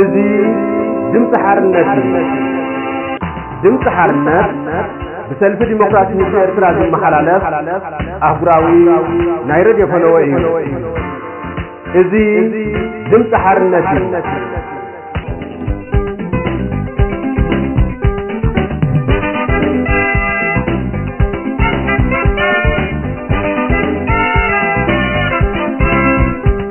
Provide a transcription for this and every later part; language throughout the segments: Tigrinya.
እዚ ድምፂ ሓርነት እዩ። ድምፂ ሓርነት ብሰልፊ ዲሞክራሲ ህዝቢ ኤርትራ ዝመሓላለፍ ኣህጉራዊ ናይ ረድዮ ፈነወ እዩ። እዚ ድምፂ ሓርነት እዩ።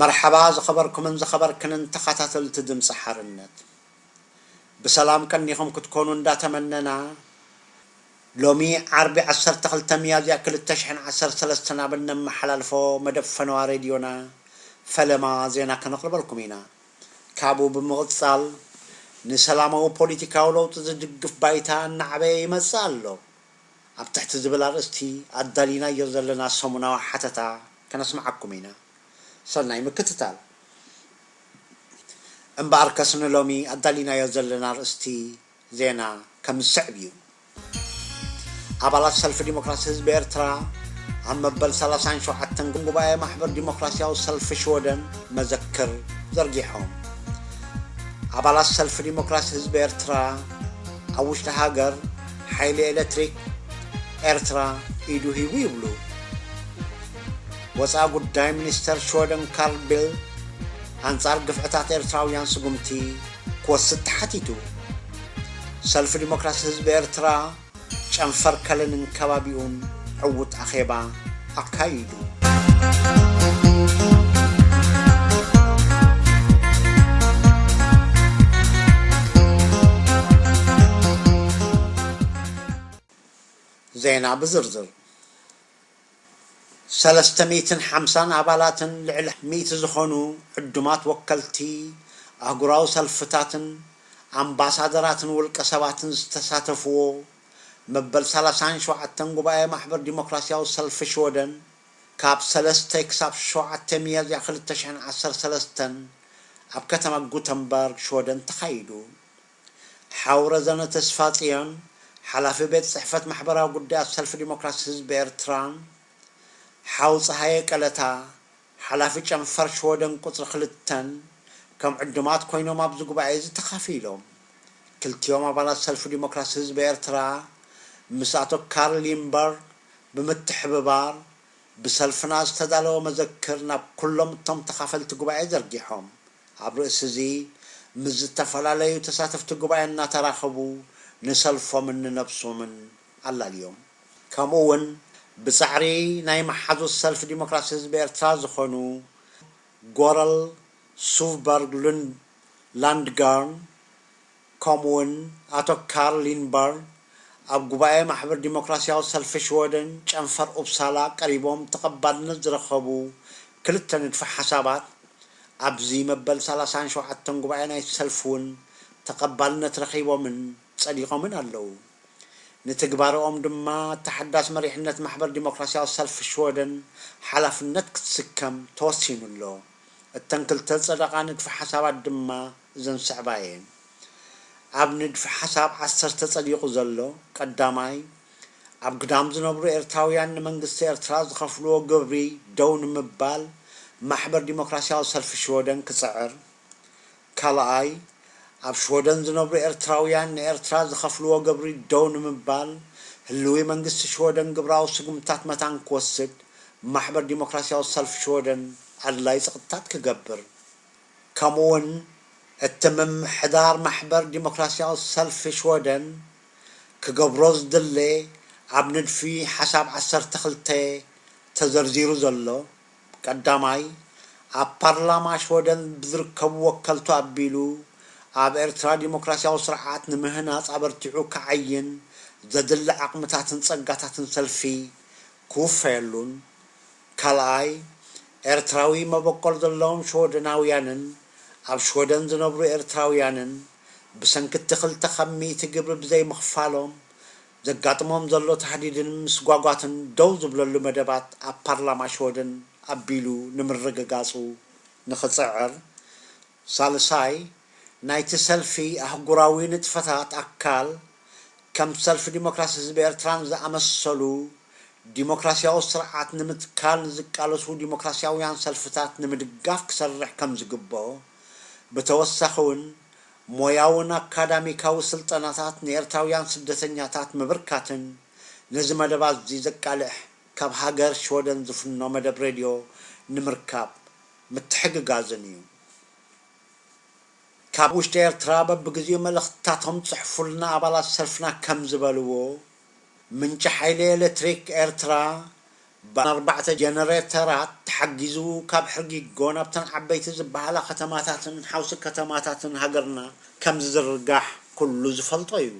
መርሓባ ዝኸበርኩምን ዝኸበርክንን ተኻታተልቲ ድምጺ ሓርነት ብሰላም ቀኒኹም ክትኮኑ እንዳ ተመነና ሎሚ ዓርቢ ዓሰርተ ክልተ ሚያዝያ ክልተ ሽሕን ዓሰርተ ሰለስተን ኣብ እነመሓላልፎ መደብ ፈነዋ ሬድዮና ፈለማ ዜና ከነቕርበልኩም ኢና። ካብኡ ብምቕጻል፣ ንሰላማዊ ፖሊቲካዊ ለውጢ ዝድግፍ ባይታ እናዓበየ ይመጽእ ኣሎ ኣብ ትሕቲ ዝብል ኣርእስቲ ኣዳሊናዮ ዘለና ሰሙናዊ ሓተታ ከነስምዓኩም ኢና። ሰናይ ምክትታል። እምበኣርከስ ንሎሚ ኣዳሊናዮ ዘለና ኣርእስቲ ዜና ከም ዝስዕብ እዩ። ኣባላት ሰልፊ ዲሞክራሲ ህዝቢ ኤርትራ ኣብ መበል ሰላሳን ሸውዓተን ጉባኤ ማሕበር ዲሞክራሲያዊ ሰልፊ ሽወደን መዘክር ዘርጊሖም። ኣባላት ሰልፊ ዲሞክራሲ ህዝቢ ኤርትራ ኣብ ውሽጢ ሃገር ሓይሊ ኤሌክትሪክ ኤርትራ ኢዱ ሂቡ ይብሉ ወፃኢ ጉዳይ ሚኒስተር ሽወደን ካርል ቢልት ኣንጻር ግፍዕታት ኤርትራውያን ስጉምቲ ክወስድ ተሓቲቱ። ሰልፊ ዲሞክራሲ ህዝቢ ኤርትራ ጨንፈር ከለንን ከባቢኡን ዕዉት ኣኼባ ኣካይዱ። ዜና ብዝርዝር ሰለስተ ሚእትን ሓምሳን ኣባላትን ልዕሊ ሚእቲ ዝኾኑ ዕዱማት ወከልቲ ኣህጉራዊ ሰልፍታትን ኣምባሳደራትን ውልቀ ሰባትን ዝተሳተፍዎ መበል ሰላሳን ሸውዓተን ጉባኤ ማሕበር ዲሞክራሲያዊ ሰልፊ ሽወደን ካብ ሰለስተ ክሳብ ሸውዓተ ሚያዝያ ክልተ ሽሕን ዓሰርተ ሰለስተን ኣብ ከተማ ጉተንበርግ ሽወደን ተኻይዱ። ሓው ረዘነ ተስፋጽዮን፣ ሓላፊ ቤት ጽሕፈት ማሕበራዊ ጉዳያት ሰልፊ ዲሞክራሲ ህዝቢ ኤርትራ፣ ሓው ጸሃየ ቀለታ፣ ሓላፊ ጨንፈር ሽወደን ቁጽሪ ክልተን ከም ዕዱማት ኮይኖም ኣብዚ ጉባኤ'ዚ ተኻፊሎም። ክልቲኦም ኣባላት ሰልፊ ዲሞክራሲ ህዝቢ ኤርትራ ምስ ኣቶ ካርል ዪምበርግ ብምትሕብባር፣ ብሰልፍና ዝተዳለወ መዘክር ናብ ኩሎም እቶም ተኻፈልቲ ጉባኤ ዘርጊሖም ኣብ ርእሲ እዚ ምስ ዝተፈላለዩ ተሳተፍቲ ጉባኤ እናተራኸቡ ንሰልፎምን ንነብሶምን ኣላልዮም ከምኡ እውን ብፃዕሪ ናይ መሓዙት ሰልፊ ዲሞክራሲ ህዝቢ ኤርትራ ዝኾኑ ጎረል ሱቭበርግ ሉንድ ላንድጋርን ከምኡ'ውን ኣቶ ካርል ሊንድበርግ ኣብ ጉባኤ ማሕበር ዲሞክራሲያዊ ሰልፊ ሽወደን ጨንፈር ኡፕሳላ ቀሪቦም ተቐባልነት ዝረኸቡ ክልተ ንድፈ ሓሳባት ኣብዚ መበል ሰላሳን ሸውዓተን ጉባኤ ናይቲ ሰልፊ እውን ተቐባልነት ረኺቦምን ጸዲቖምን ኣለዉ። ንትግባረኦም ድማ እታ ሓዳስ መሪሕነት ማሕበር ዲሞክራሲያዊ ሰልፊ ሽወደን ሓላፍነት ክትስከም ተወሲኑ ኣሎ። እተን ክልተ ዝጸደቓ ንድፈ ሓሳባት ድማ፣ እዘን ዝስዕባ እየን። ኣብ ንድፊ ሓሳብ ዓሰርተ ጸዲቑ ዘሎ፣ ቀዳማይ፣ ኣብ ግዳም ዝነብሩ ኤርትራውያን ንመንግስቲ ኤርትራ ዝኸፍልዎ ግብሪ ደው ንምባል ማሕበር ዲሞክራስያዊ ሰልፊ ሽወደን ክጽዕር፣ ካልኣይ፣ ኣብ ሽወደን ዝነብሩ ኤርትራውያን ንኤርትራ ዝኸፍልዎ ግብሪ ደው ንምባል ህልዊ መንግስቲ ሽወደን ግብራዊ ስጉምትታት መታን ክወስድ ማሕበር ዲሞክራስያዊ ሰልፊ ሽወደን ኣድላይ ጸቕጥታት ክገብር ከምኡ'ውን እቲ ምምሕዳር ማሕበር ዲሞክራሲያዊ ሰልፊ ሽወደን ክገብሮ ዝድለ ኣብ ንድፊ ሓሳብ ዓሰርተ ክልተ ተዘርዚሩ ዘሎ ቀዳማይ ኣብ ፓርላማ ሽወደን ብዝርከቡ ወከልቱ ኣቢሉ ኣብ ኤርትራ ዲሞክራሲያዊ ስርዓት ንምህናጽ ኣበርቲዑ ክዓይን ዘድሊ ዓቕምታትን ጸጋታትን ሰልፊ ክውፈየሉን ካልኣይ፣ ኤርትራዊ መበቆል ዘለዎም ሽወደናውያንን ኣብ ሽወደን ዝነብሩ ኤርትራውያንን ብሰንኪ'ቲ ክልተ ካብ ሚእቲ ግብሪ ብዘይምኽፋሎም ዘጋጥሞም ዘሎ ታህዲድን ምስጓጓትን ደው ዝብለሉ መደባት ኣብ ፓርላማ ሽወደን ኣቢሉ ንምርግጋጹ ንኽጽዕር ሳልሳይ፣ ናይቲ ሰልፊ ኣህጉራዊ ንጥፈታት ኣካል፣ ከም ሰልፊ ዲሞክራሲ ህዝቢ ኤርትራን ዝኣመሰሉ፣ ዲሞክራሲያዊ ስርዓት ንምትካል ንዝቃለሱ ዲሞክራሲያውያን ሰልፍታት ንምድጋፍ ክሰርሕ ከም ዝግብኦ፣ ብተወሳኺውን ሞያውን ኣካዳሚካዊ ስልጠናታት ንኤርትራውያን ስደተኛታት ምብርካትን ነዚ መደባትዚ ዘቃልሕ ካብ ሃገር ሽወደን ዝፍኖ መደብ ሬድዮ ንምርካብ ምትሕግጋዝን እዩ። ካብ ውሽጢ ኤርትራ በብግዜኡ መልእኽትታቶም ጽሕፉልና ኣባላት ሰልፍና ከም ዝበልዎ፣ ምንጪ ሓይሊ ኤለትሪክ ኤርትራ ብኣርባዕተ ጀነሬተራት ተሓጊዙ ካብ ሕርጊጎ ናብተን ዓበይቲ ዝበሃላ ከተማታትን ሓውሲ ከተማታትን ሃገርና ከም ዝዝርጋሕ ኩሉ ዝፈልጦ እዩ።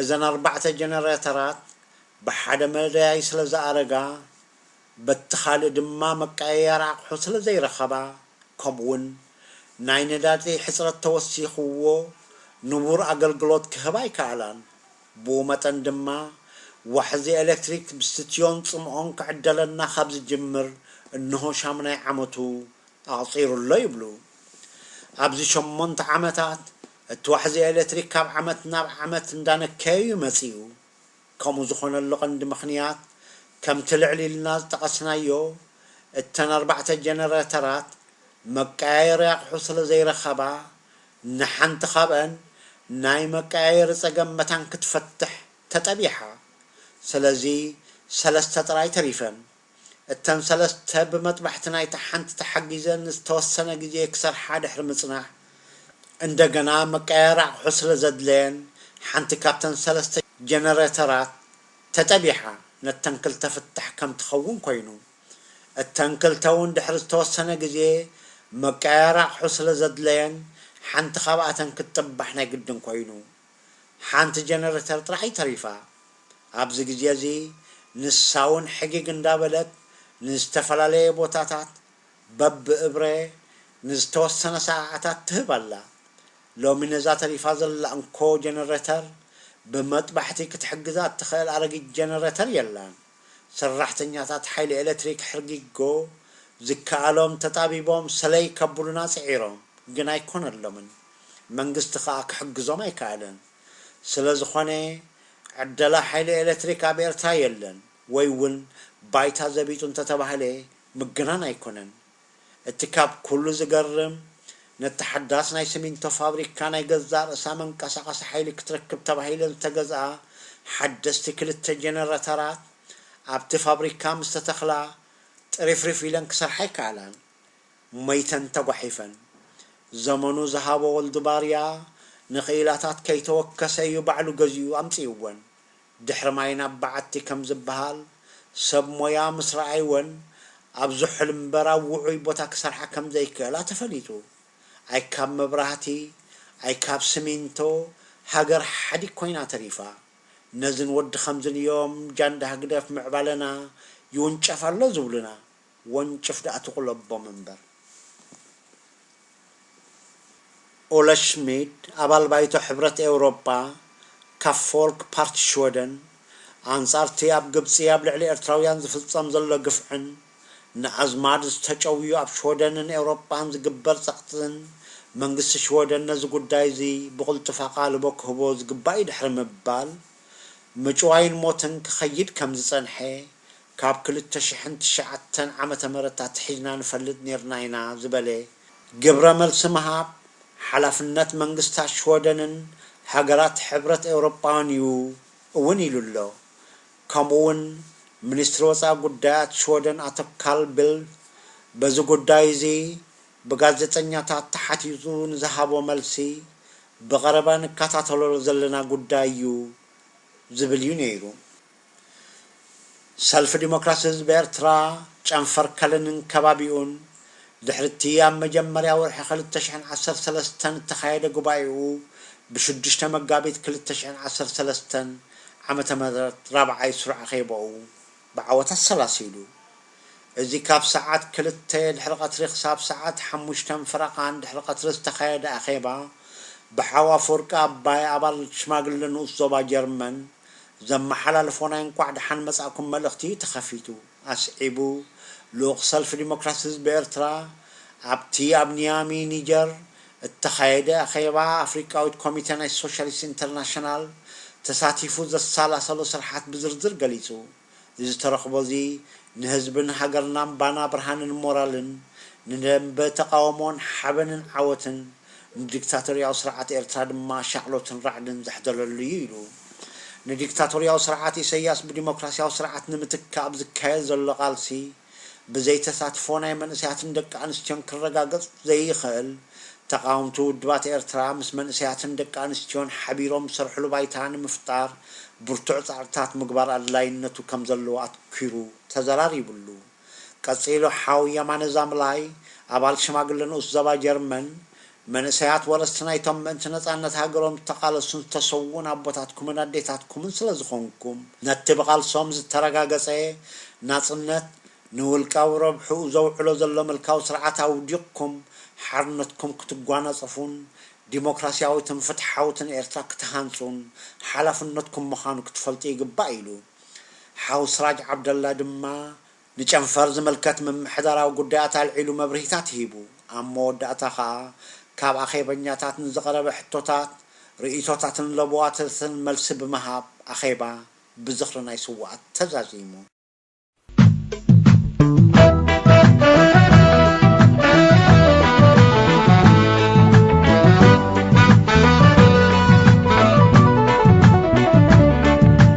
እዘን ኣርባዕተ ጀነሬተራት ብሓደ መዳይ ስለ ዝኣረጋ፣ በቲ ካልእ ድማ መቀያየሪ ኣቕሑ ስለዘይረኸባ ከምኡ'ውን ናይ ነዳዲ ሕጽረት ተወሲኽዎ ንቡር ኣገልግሎት ክህባ ኣይከኣላን። ብኡ መጠን ድማ ዋሕዚ ኤለክትሪክ ብስትዮን ጽምኦን ክዕደለና ካብ ዝጅምር እንሆ ሻሙናይ ዓመቱ ኣቕጺሩ ኣሎ ይብሉ። ኣብዚ ሸሞንተ ዓመታት እቲ ዋሕዚ ኤለትሪክ ካብ ዓመት ናብ ዓመት እንዳነከየ'ዩ መጺኡ። ከምኡ ዝኾነሉ ቀንዲ ምኽንያት ከምቲ ልዕል ኢልና ዝጠቐስናዮ እተን ኣርባዕተ ጀነረተራት መቀያየሪ ኣቕሑ ስለዘይረኸባ ንሓንቲ ካብኣን ናይ መቀያየሪ ጸገም መታን ክትፈትሕ ተጠቢሓ። ስለዚ ሰለስተ ጥራይ ተሪፈን። እተን ሰለስተ ብመጥባሕቲ ናይታ ሓንቲ ተሓጊዘን ንዝተወሰነ ግዜ ክሰርሓ ድሕሪ ምጽናሕ፣ እንደገና መቀያየሪ ኣቕሑ ስለ ዘድለየን ሓንቲ ካብተን ሰለስተ ጀነረተራት ተጠቢሓ ነተን ክልተ ፍታሕ ከም ትኸውን ኮይኑ። እተን ክልተ እውን ድሕሪ ዝተወሰነ ግዜ መቀያየሪ ኣቕሑ ስለ ዘድለየን ሓንቲ ካብኣተን ክትጥባሕ ናይ ግድን ኮይኑ። ሓንቲ ጀነረተር ጥራሕ'ዩ ተሪፋ። ኣብዚ ግዜ'ዚ ንሳ'ውን ሕጊግ እንዳበለት ንዝተፈላለየ ቦታታት በብእብረ ንዝተወሰነ ሰዓዓታት ትህብ ኣላ። ሎሚ ነዛ ተሪፋ ዘላ እንኮ ጀነረተር ብመጥባሕቲ ክትሕግዛ እትኽእል ኣረጊት ጀነረተር የላን። ሰራሕተኛታት ሓይሊ ኤለትሪክ ሕርጊጎ ዝከኣሎም ተጣቢቦም ሰለይ ከብሉና ጽዒሮም፣ ግን ኣይኮነሎምን። መንግስቲ ከኣ ክሕግዞም ኣይከኣለን። ስለዝኾነ ዕደላ ሓይሊ ኤለትሪክ ኣብ ኤርትራ የለን ወይ ውን ባይታ ዘቢጡ እንተተባህለ ምግናን ኣይኮነን። እቲ ካብ ኩሉ ዝገርም ነቲ ሓዳስ ናይ ስሚንቶ ፋብሪካ ናይ ገዛእ ርእሳ መንቀሳቐሲ ሓይሊ ክትረክብ ተባሂለን ዝተገዝኣ ሓደስቲ ክልተ ጀነረተራት ኣብቲ ፋብሪካ ምስተተኽላ ጥሪፍሪፍ ኢለን ክሰርሓ ኣይከኣላን። ሞይተን ተጓሒፈን። ዘመኑ ዝሃቦ ወልዱ ባርያ ንክኢላታት ከይተወከሰ እዩ ባዕሉ ገዚኡ ኣምጺኡወን። ድሕሪ ማይ ናብ በዓቲ ከም ዝበሃል፣ ሰብ ሞያ ምስ ረኣይወን ኣብ ዝሑል እምበር ኣብ ውዑይ ቦታ ክሰርሓ ከም ዘይክእላ ተፈሊጡ። ኣይ ካብ መብራህቲ፣ ኣይ ካብ ስሚንቶ ሃገር ሓዲግ ኮይና ተሪፋ። ነዝን ወዲ ከምዝን እዮም ጃንዳ ህግደፍ ምዕባለና ይውንጨፍ ኣሎ ዝብሉና። ወንጭፍ ድኣ ትቑለቦም እምበር። ኦለ ሽሚድ ኣባል ባይቶ ሕብረት ኤውሮጳ ካብ ፎልክ ፓርቲ ሽወደን ኣንጻርቲ ኣብ ግብጺ ኣብ ልዕሊ ኤርትራውያን ዝፍጸም ዘሎ ግፍዕን ንኣዝማድ ዝተጨውዩ ኣብ ሽወደንን ኤውሮጳን ዝግበር ጸቕጥን መንግስቲ ሽወደን ነዚ ጉዳይ'ዚ ብቕልጡፍ ኣቓልቦ ክህቦ ዝግባእ'ዩ ድሕሪ ምባል ምጭዋይን ሞትን ክኸይድ ከምዝጸንሐ ካብ ክልተ ሽሕን ትሽዓተን ዓመተ ምህረት ኣትሒዝና ንፈልጥ ኔርና ኢና ዝበለ ግብረ መልሲ ምሃብ ሓላፍነት መንግስታት ሽወደንን ሃገራት ሕብረት ኤውሮጳን እዩ እውን ኢሉ ኣሎ። ከምኡ እውን ሚኒስትሪ ወጻኢ ጉዳያት ሽወደን ኣቶ ካል ቢልፍ በዚ ጉዳይ እዚ ብጋዜጠኛታት ተሓቲቱ ንዝሃቦ መልሲ ብቐረባ ንከታተሎ ዘለና ጉዳይ እዩ ዝብል እዩ ነይሩ። ሰልፊ ዲሞክራሲ ህዝቢ ኤርትራ፣ ጨንፈር ከልንን ከባቢኡን፣ ድሕሪ'ቲ ኣብ መጀመርያ ወርሒ ክልተ ሽሕን ዓሰርተ ሰለስተን እተኻየደ ጉባኤኡ፣ ብሽዱሽተ መጋቢት ክልተ ሽሕን ዓሰርተ ሰለስተን ዓመተ ምህረት ራብዓይ ስሩዕ ኣኼባኡ ብዓወት ኣሰላሲሉ። እዚ ካብ ሰዓት ክልተ ድሕሪ ቀትሪ ክሳብ ሰዓት ሓሙሽተን ፈረቓን ድሕሪ ቀትሪ ዝተኻየደ ኣኼባ፣ ብሓው ኣፈወርቂ ኣባይ ኣባል ሽማግለ ንኡስ ዞባ ጀርመን፣ ዘመሓላልፎ ናይ እንኳዕ ደሓን መጻእኩም መልእኽቲ ተኸፊቱ። ኣስዒቡ፣ ልኡኽ ሰልፊ ዲሞክራሲ ህዝቢ ኤርትራ፣ ኣብቲ ኣብ ኒያሚ፣ ኒጀር፣ እተኻየደ ኣኼባ ኣፍሪቃዊት ኮሚተ ናይ ሶሻሊስት ኢንተርናሽናል ተሳቲፉ ዘሰላሰሎ ስርሓት ብዝርዝር ገሊጹ። እዚ ተረኽቦ እዚ ንህዝብን ሃገርናን ባና ብርሃንን ሞራልን፣ ንደምበ ተቓውሞን ሓበንን ዓወትን፣ ንዲክታቶርያዊ ስርዓት ኤርትራ ድማ ሻቕሎትን ራዕድን ዘሕደረሉ እዩ ኢሉ። ንዲክታቶርያዊ ስርዓት ኢሰያስ ብዲሞክራስያዊ ስርዓት ንምትካእ ኣብ ዝካየድ ዘሎ ቃልሲ፣ ብዘይ ተሳትፎ ናይ መንእሰያትን ደቂ ኣንስትዮን ክረጋገጽ ዘይኽእል፣ ተቓወምቲ ውድባት ኤርትራ ምስ መንእሰያትን ደቂ ኣንስትዮን ሓቢሮም ዝሰርሕሉ ባይታ ንምፍጣር ብርቱዕ ጻዕርታት ምግባር ኣድላይነቱ ከም ዘለዎ ኣትኲሩ ተዘራሪቡሉ። ቀጺሉ ሓው የማነ ዛምላይ፣ ኣባል ሽማግለ ንኡስ ዘባ ጀርመን፣ መንእሰያት ወረስቲ ናይቶም ምእንቲ ነጻነት ሃገሮም ዝተቓለሱን ዝተሰውኡን ኣቦታትኩምን ኣዴታትኩምን ስለዝኾንኩም፣ ነቲ ብቓልሶም ዝተረጋገጸ ናጽነት፣ ንውልቃዊ ረብሕኡ ዘውዕሎ ዘሎ ምልካዊ ስርዓት ኣውዲቕኩም፣ ሓርነትኩም ክትጓናጸፉን ዲሞክራስያዊትን ፍትሓዊትን ኤርትራ ክትሃንጹን ሓላፍነትኩም ምዃኑ ክትፈልጡ ይግባእ ኢሉ። ሓው ስራጅ ዓብደላ ድማ ንጨንፈር ዝምልከት ምምሕዳራዊ ጉዳያት ኣልዒሉ መብርሂታት ሂቡ። ኣብ መወዳእታ ከኣ ካብ ኣኼበኛታት ንዝቐረበ ሕቶታት፣ ርእይቶታትን ለበዋታትን መልሲ ብምሃብ ኣኼባ ብዝኽሪ ናይ ስዉኣት ተዛዚሙ።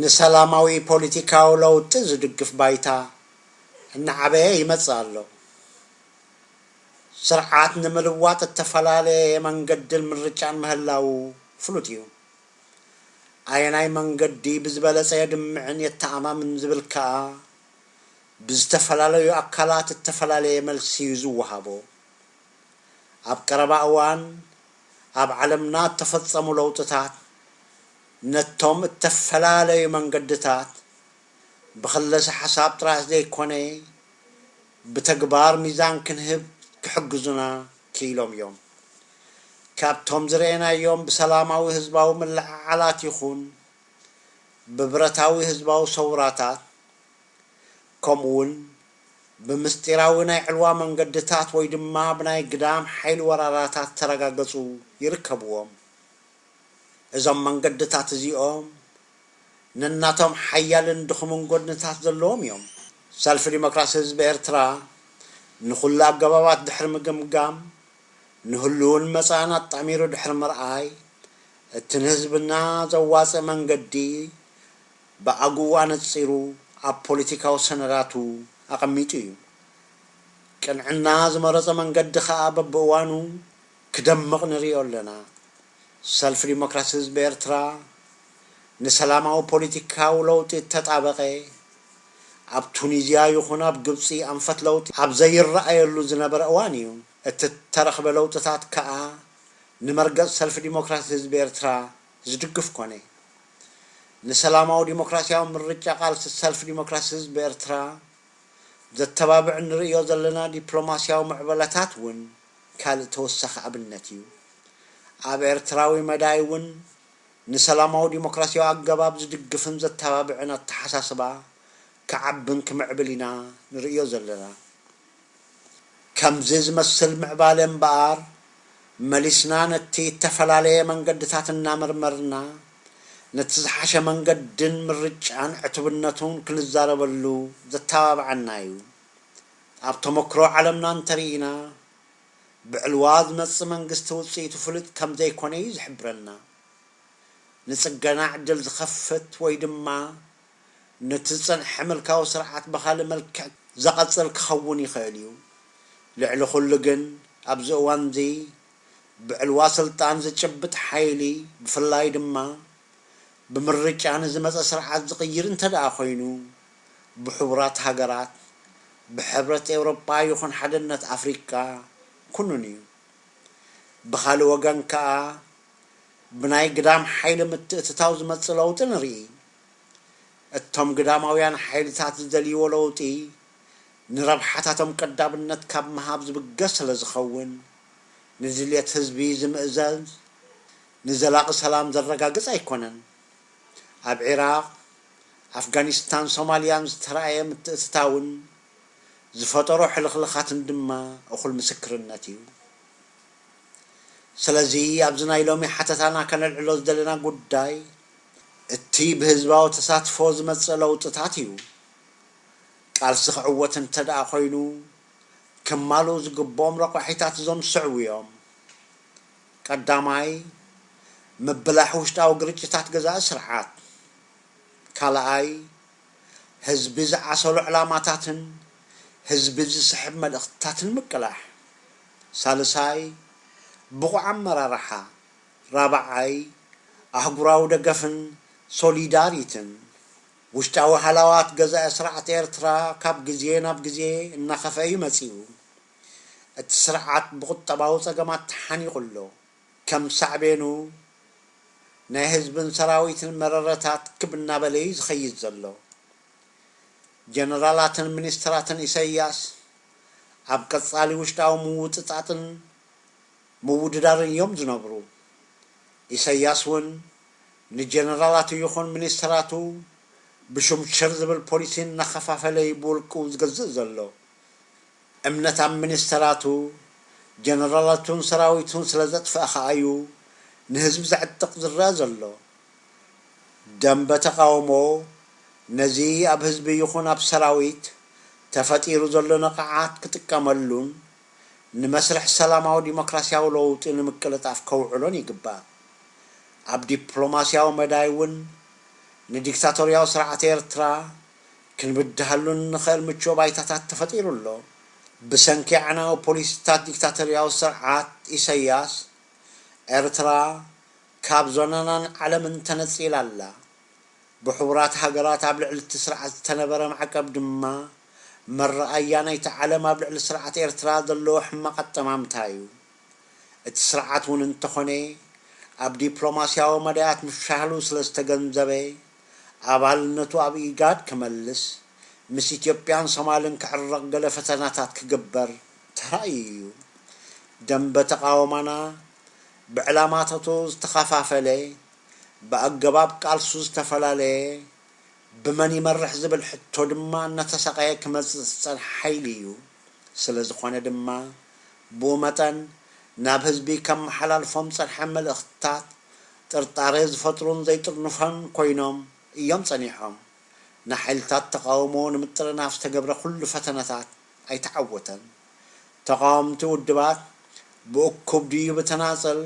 ንሰላማዊ ፖሊቲካዊ ለውጢ ዝድግፍ ባይታ እናዓበየ ይመጽእ ኣሎ። ስርዓት ንምልዋጥ እተፈላለየ መንገድን ምርጫን ምህላዉ ፍሉጥ እዩ። ኣየናይ መንገዲ ብዝበለጸ የድምዕን የተኣማምን ዝብል ከኣ ብዝተፈላለዩ ኣካላት እተፈላለየ መልሲ እዩ ዝወሃቦ። ኣብ ቀረባ እዋን ኣብ ዓለምና እተፈጸሙ ለውጥታት፣ ነቶም እተፈላለዩ መንገድታት ብክለሰ-ሓሳብ ጥራሕ ዘይኰነ ብተግባር ሚዛን ክንህብ ክሕግዙና ክኢሎም ኢዮም። ካብቶም ዝረኤናዮም ብሰላማዊ ህዝባዊ ምልዕዓላት ይኹን ብብረታዊ ህዝባዊ ሰውራታት ከምኡውን ብምስጢራዊ ናይ ዕልዋ መንገድታት ወይ ድማ ብናይ ግዳም ሓይሊ ወራራታት እተረጋገጹ ይርከብዎም። እዞም መንገድታት እዚኦም ነናቶም ሓያልን ድኹምን ጎድንታት ዘለዎም እዮም። ሰልፊ ዲሞክራሲ ህዝቢ ኤርትራ ንኹሉ ኣገባባት ድሕሪ ምግምጋም፣ ንህሉውን መጻእን ኣጣሚሩ ድሕሪ ምርኣይ፣ እቲ ንህዝብና ዘዋጽእ መንገዲ ብኣግኡ ኣነጺሩ ኣብ ፖሊቲካዊ ሰነዳቱ ኣቐሚጡ እዩ። ቅንዕና ዝመረጾ መንገዲ ከኣ በብእዋኑ ክደምቕ ንርእዮ ኣለና። ሰልፊ ዲሞክራሲ ህዝቢ ኤርትራ ንሰላማዊ ፖሊቲካዊ ለውጢ እተጣበቐ፣ ኣብ ቱኒዝያ ይኹን ኣብ ግብጺ ኣንፈት ለውጢ ኣብ ዘይረኣየሉ ዝነበረ እዋን እዩ። እቲ እተረኽበ ለውጥታት ከኣ ንመርገጽ ሰልፊ ዲሞክራሲ ህዝቢ ኤርትራ ዝድግፍ ኮነ። ንሰላማዊ ዲሞክራሲያዊ ምርጫ ቃልሲ ሰልፊ ዲሞክራሲ ህዝቢ ኤርትራ ዘተባብዕ እንርእዮ ዘለና ዲፕሎማሲያዊ ምዕበለታት እውን፣ ካልእ ተወሳኺ ኣብነት እዩ። ኣብ ኤርትራዊ መዳይ እውን ንሰላማዊ ዲሞክራሲያዊ ኣገባብ ዝድግፍን ዘተባብዕን ኣተሓሳስባ ክዓብን ክምዕብል ኢና ንርእዮ ዘለና። ከምዚ ዝመስል ምዕባለ እምበኣር መሊስና ነቲ እተፈላለየ መንገድታት እናመርመርና ነቲ ዝሓሸ መንገድን ምርጫን ዕቱብነቱን ክንዛረበሉ ዘተባብዓና እዩ። ኣብ ተመክሮ ዓለምና እንተርኢና ብዕልዋ ዝመጽእ መንግስቲ ውጽኢቱ ፍሉጥ ከምዘይኮነ እዩ ዝሕብረና። ንጽገና ዕድል ዝኸፍት ወይ ድማ ነቲ ዝጸንሐ ምልካዊ ስርዓት ብኻልእ መልክዕ ዘቐጽል ክኸውን ይኽእል እዩ። ልዕሊ ኩሉ ግን ኣብዚ እዋንዚ ብዕልዋ ስልጣን ዝጭብጥ ሓይሊ ብፍላይ ድማ ብምርጫ ንዝመጸ ስርዓት ዝቕይር እንተድኣ ኮይኑ፣ ብሕቡራት ሃገራት፣ ብሕብረት ኤውሮጳ ይኹን ሓድነት ኣፍሪቃ ኩኑን እዩ። ብኻልእ ወገን ከኣ ብናይ ግዳም ሓይሊ ምትእትታው ዝመጽእ ለውጢ ንርኢ። እቶም ግዳማውያን ሓይልታት ዝደልይዎ ለውጢ ንረብሓታቶም ቀዳምነት ካብ ምሃብ ዝብገስ ስለዝኸውን፣ ንድልየት ህዝቢ ዝምእዘዝ፣ ንዘላቒ ሰላም ዘረጋግጽ ኣይኮነን። ኣብ ዒራቕ፣ ኣፍጋኒስታን ሶማልያን ዝተራእየ ምትእትታውን ዝፈጠሮ ሕልኽልኻትን ድማ እኹል ምስክርነት እዩ። ስለዚ ኣብዚ ናይ ሎሚ ሓተታና ከነልዕሎ ዝደለና ጉዳይ እቲ ብህዝባዊ ተሳትፎ ዝመጽእ ለውጥታት እዩ። ቃልሲ ክዕወት እንተድኣ ኮይኑ ክማልኡ ዝግብኦም ረቋሒታት እዞም ዝስዕቡ እዮም። ቀዳማይ፣ ምብላሕ ውሽጣዊ ግርጭታት ገዛኢ ስርዓት፣ ካልኣይ፣ ህዝቢ ዝዓሰሎ ዕላማታትን ህዝቢ ዝስሕብ መልእኽትታትን ምቅላሕ፣ ሳልሳይ፣ ብቑዕ ኣመራርሓ፣ ራብዓይ፣ ኣህጉራዊ ደገፍን ሶሊዳሪትን። ውሽጣዊ ሃላዋት ገዛኢ ስርዓት ኤርትራ ካብ ግዜ ናብ ግዜ እናኸፍአ እዩ መጺኡ። እቲ ስርዓት ብቁጠባዊ ጸገማት ተሓኒቑ ኣሎ። ከም ሳዕቤኑ ናይ ህዝብን ሰራዊትን መረረታት ክብ እናበለ እዩ ዝኸይድ ዘሎ። ጀነራላትን ሚኒስተራትን ኢሳይያስ ኣብ ቀጻሊ ውሽጣዊ ምውጥጣጥን ምውድዳርን እዮም ዝነብሩ። ኢሳይያስ እውን ንጀነራላቱ ይኹን ሚኒስተራቱ ብሹም ሽር ዝብል ፖሊሲ እናኸፋፈለ እዩ ብውልቁ ዝገዝእ ዘሎ። እምነት ኣብ ሚኒስተራቱ፣ ጀነራላቱን ሰራዊቱን ስለ ዘጥፍኣ ከኣ'ዩ ንህዝቢ ዘዕጥቕ ዝረኣ ዘሎ። ደምበ ተቓውሞ ነዚ ኣብ ህዝቢ ይኹን ኣብ ሰራዊት ተፈጢሩ ዘሎ ንቕዓት ክጥቀመሉን ንመስርሕ ሰላማዊ ዲሞክራስያዊ ለውጢ ንምቅልጣፍ ከውዕሎን ይግባእ። ኣብ ዲፕሎማስያዊ መዳይ'ውን ንዲክታቶርያዊ ስርዓት ኤርትራ ክንብድሃሉ እንኸእል ምቹወ ባይታታት ተፈጢሩ ኣሎ። ብሰንኪ ኣዕናዊ ፖሊሲታት ዲክታቶርያዊ ስርዓት ኢሰያስ፣ ኤርትራ ካብ ዞናናን ዓለምን ተነጺላ ኣላ። ብሕቡራት ሃገራት ኣብ ልዕሊ'ቲ ስርዓት ዝተነበረ ማዕቀብ ድማ፣ መረኣያ ናይቲ ዓለም ኣብ ልዕሊ ስርዓት ኤርትራ ዘለዎ ሕማቕ ኣጠማምታ እዩ። እቲ ስርዓት እውን እንተኾነ ኣብ ዲፕሎማሲያዊ መዳያት ምፍሻሉ ስለዝተገንዘበ፣ ኣባልነቱ ኣብ ኢጋድ ክመልስ፣ ምስ ኢትዮጵያን ሶማልን ክዕረቕ ገለ ፈተናታት ክግበር ተራእዩ እዩ። ደምበ ተቓውማና ብዕላማታቱ ዝተኸፋፈለ፣ ብኣገባብ ቃልሱ ዝተፈላለየ፣ ብመን ይመርሕ ዝብል ሕቶ ድማ እናተሳቐየ ክመጽእ ዝጸንሐ ሓይሊ እዩ። ስለዝኾነ ድማ ብኡ መጠን ናብ ህዝቢ ከመሓላልፎም ዝጸንሐ መልእኽትታት ጥርጣሬ ዝፈጥሩን ዘይጥርኑፈን ኮይኖም እዮም ጸኒሖም። ንሓይልታት ተቓውሞ ንምጥርናፍ ዝተገብረ ኩሉ ፈተነታት ኣይተዓወተን። ተቓወምቲ ውድባት ብእኩብ ድዩ ብተናጸል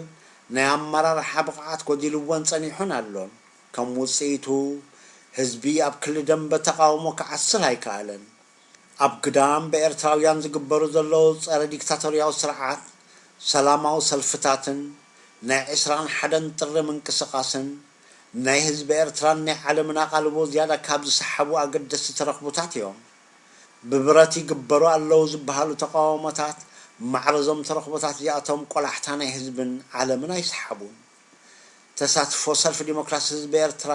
ናይ ኣመራርሓ ብቕዓት ጎዲልወን ጸኒሑን ኣሎን። ከም ውጽኢቱ ህዝቢ ኣብ ክሊ ደምበ ተቓውሞ ክዓስል ኣይከኣለን። ኣብ ግዳም ብኤርትራውያን ዝግበሩ ዘለዉ ጸረ ዲክታቶርያዊ ስርዓት ሰላማዊ ሰልፍታትን ናይ ዕስራን ሓደን ጥሪ ምንቅስቃስን ናይ ህዝቢ ኤርትራን ናይ ዓለምን ኣቓልቦ ዝያዳ ካብ ዝሰሓቡ ኣገደስቲ ተረኽቡታት እዮም። ብብረት ይግበሩ ኣለዉ ዝበሃሉ ተቓውሞታት ማዕረዞም ተረኽቦታት እዚኣቶም ቆላሕታ ናይ ህዝብን ዓለምን ኣይሰሓቡን። ተሳትፎ ሰልፊ ዲሞክራሲ ህዝቢ ኤርትራ፣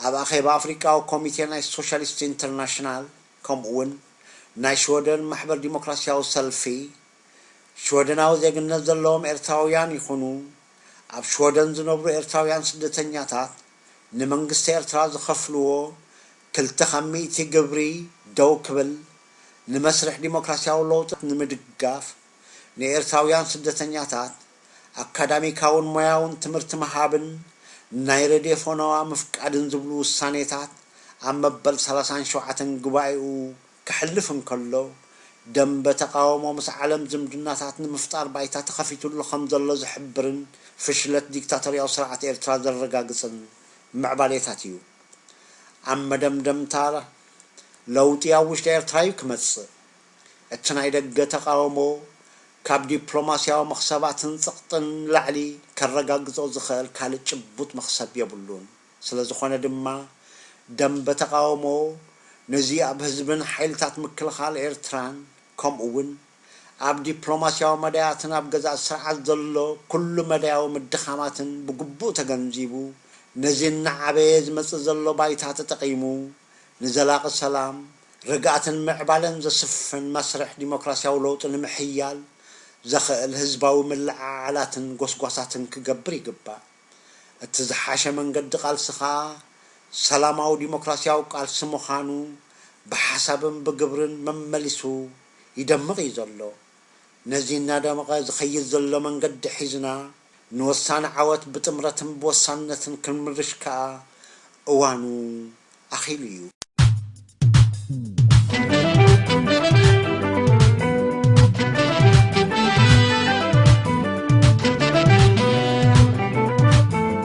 ኣብ ኣኼባ ኣፍሪቃዊ ኮሚቴ ናይ ሶሻሊስት ኢንተርናሽናል ከምኡ'ውን ናይ ሽወደን ማሕበር ዲሞክራሲያዊ ሰልፊ፣ ሽወደናዊ ዜግነት ዘለዎም ኤርትራውያን ይኹኑ ኣብ ሽወደን ዝነብሩ ኤርትራውያን ስደተኛታት ንመንግስቲ ኤርትራ ዝኸፍልዎ ክልተ ካብ ሚእቲ ግብሪ ደው ክብል ንመስርሕ ዲሞክራሲያዊ ለውጢ ንምድጋፍ ንኤርትራውያን ስደተኛታት ኣካዳሚካውን ሞያውን ትምህርቲ ምሃብን ናይ ረድዮ ፈነዋ ምፍቃድን ዝብሉ ውሳኔታት ኣብ መበል ሰላሳን ሸውዓተን ጉባኤኡ ከሕልፍ እንከሎ፣ ደምበ ተቓውሞ ምስ ዓለም ዝምድናታት ንምፍጣር ባይታ ተኸፊቱሉ ከም ዘሎ ዝሕብርን ፍሽለት ዲክታቶርያዊ ስርዓት ኤርትራ ዘረጋግጽን ምዕባሌታት እዩ። ኣብ መደምደምታ፣ ለውጢ ኣብ ውሽጢ ኤርትራ እዩ ክመጽእ። እቲ ናይ ደገ ተቓውሞ ካብ ዲፕሎማስያዊ መኽሰባትን ጽቕጥን ንላዕሊ ከረጋግጾ ዝኸእል ካልእ ጭቡጥ መኽሰብ የብሉን። ስለ ዝኾነ ድማ ደምበ ተቓውሞ ነዚ ኣብ ህዝብን ሓይልታት ምክልኻል ኤርትራን ከምኡ'ውን ኣብ ዲፕሎማስያዊ መዳያትን ኣብ ገዛእቲ ስርዓት ዘሎ ኩሉ መዳያዊ ምድኻማትን ብግቡእ ተገንዚቡ ነዚ እናዓበየ ዝመጽእ ዘሎ ባይታ ተጠቒሙ ንዘላቒ ሰላም ርግኣትን ምዕባለን ዘስፍን መስርሕ ዲሞክራሲያዊ ለውጢ ንምሕያል ዘኸእል ህዝባዊ ምልዕዓላትን ጎስጓሳትን ክገብር ይግባእ። እቲ ዝሓሸ መንገዲ ቃልሲ ከኣ ሰላማዊ ዲሞክራሲያዊ ቃልሲ ምዃኑ ብሓሳብን ብግብርን መመሊሱ ይደምቕ እዩ ዘሎ። ነዚ እናደመቐ ዝኸይድ ዘሎ መንገዲ ሒዝና ንወሳኒ ዓወት ብጥምረትን ብወሳንነትን ክንምርሽ ከኣ እዋኑ ኣኺሉ እዩ።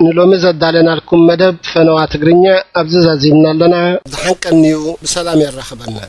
ንሎሚ ዘዳለናልኩም መደብ ፈነዋ ትግርኛ ኣብዚ ዛዚምና ኣለና። ደሓን ቀንዩ ብሰላም የራኽበና።